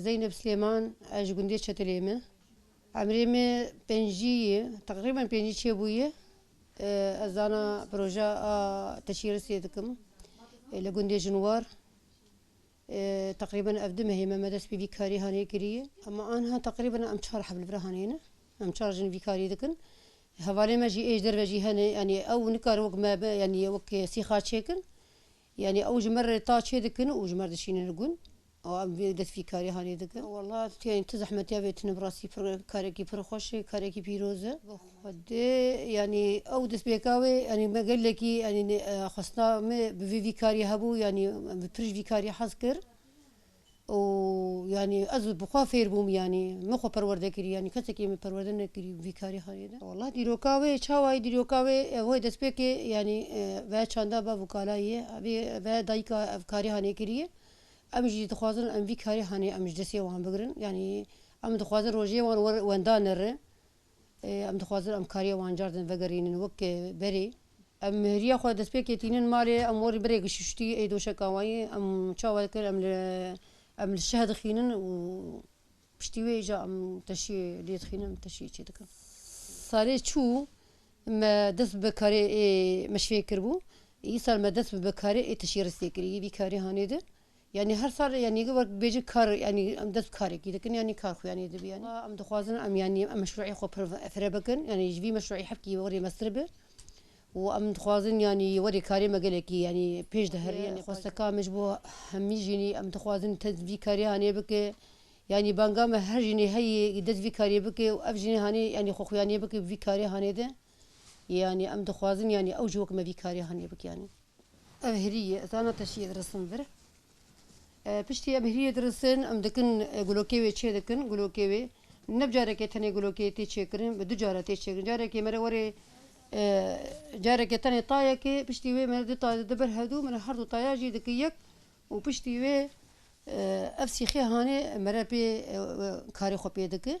Zeynep Silêman ez ji gundê Çetilê me. Emrê me pêncî ye, teqrîben pêncî çêbûye. Ez zana proja a teşîrisê dikim li gundê Jinwar. Teqrîben ev du mehê me me dest bi vî karî hanê kirî. Ema anha teqrîben em çar hevlvira hanê ne. Em çar jin vî karî dikin. Hevalên me jî êj derve jî hene yanî ew nikare wek me be yanî wek sîxa çêkin. Yanî ew ji me re ta çê dikin û ji me re dişînin li gund. Ew em vê dest vî karî hanê dikin. Wela tu yanî tu zehmetiya vê tune bi rastî pir karekî pir xweş e, karekî pîroz e. Xwedê yanî ew destpêka wê yanî me gelekî yanî xwestina me bi vê vî karî hebû yanî bi pirij vî karî hez kir û yanî ez bi xwe fêr bûm yanî min xwe perwerde kirî yanî kesekî min perwerde nekirî bi vî karî hanê de. Wela dîroka wê çawayî dîroka wê ev wê destpêkê yanî ve çanda bev û kalayî ye hebê ve dayîka ev karî hanê kirî ye em jî dixwazin em vî karî hanê em ji destê wan bigirin yanî em dixwazin rojê wan wenda nere Em dixwazin em kariya wan car din vegerînin wek berê. Em hêriya xwe destpêkê tînin malê, em warê berê gişuştî ê doşeka wayî em çawa kir em li em li şeh dixînin û piştî wê îja em teşîyê lê dixînin em teşîyê çê dikin. Salê çû me dest bi karê ê meşfê kiribû, îsal me dest bi karê ê teşî ristê kirî. Vî karî hanê di. Yanî her sal yanî wek bêje kar yanî em dest karekî dikin yanî kar xwe yanî dibî yanî em dixwazin em yanî em meşruî xwe pire bikin yanî ji vî meşruî hevkî werê mestir bi û em dixwazin yanî werê karê me gelekî yanî pêş de herî yanî xwesteka min ji bo hemî jînî em dixwazin te vî karê hanê bike yanî banga me her jînî heyî dest vî karê bike û ev jînî hanê yanî xwe xwe yanî bike vî karê hanê de yanî em dixwazin yanî ew ji wek me vî karê hanê bike yanî. Ev hirî ye, ez ana teşî yê dirisin vir. Piştî em hirî yê dirisin, em dikin gulokê wê çê dikin. Gulokê wê ne bi carekê tenê gulokê tê çêkirin, bi du cara tê çêkirin. Carekê me re werê carekê tenê tayekê, piştî wê me du taye dide ber hev du. Me re her du taya jî dikin yek û piştî wê ev sîxê hanê me re pê karê xwe pê dikin.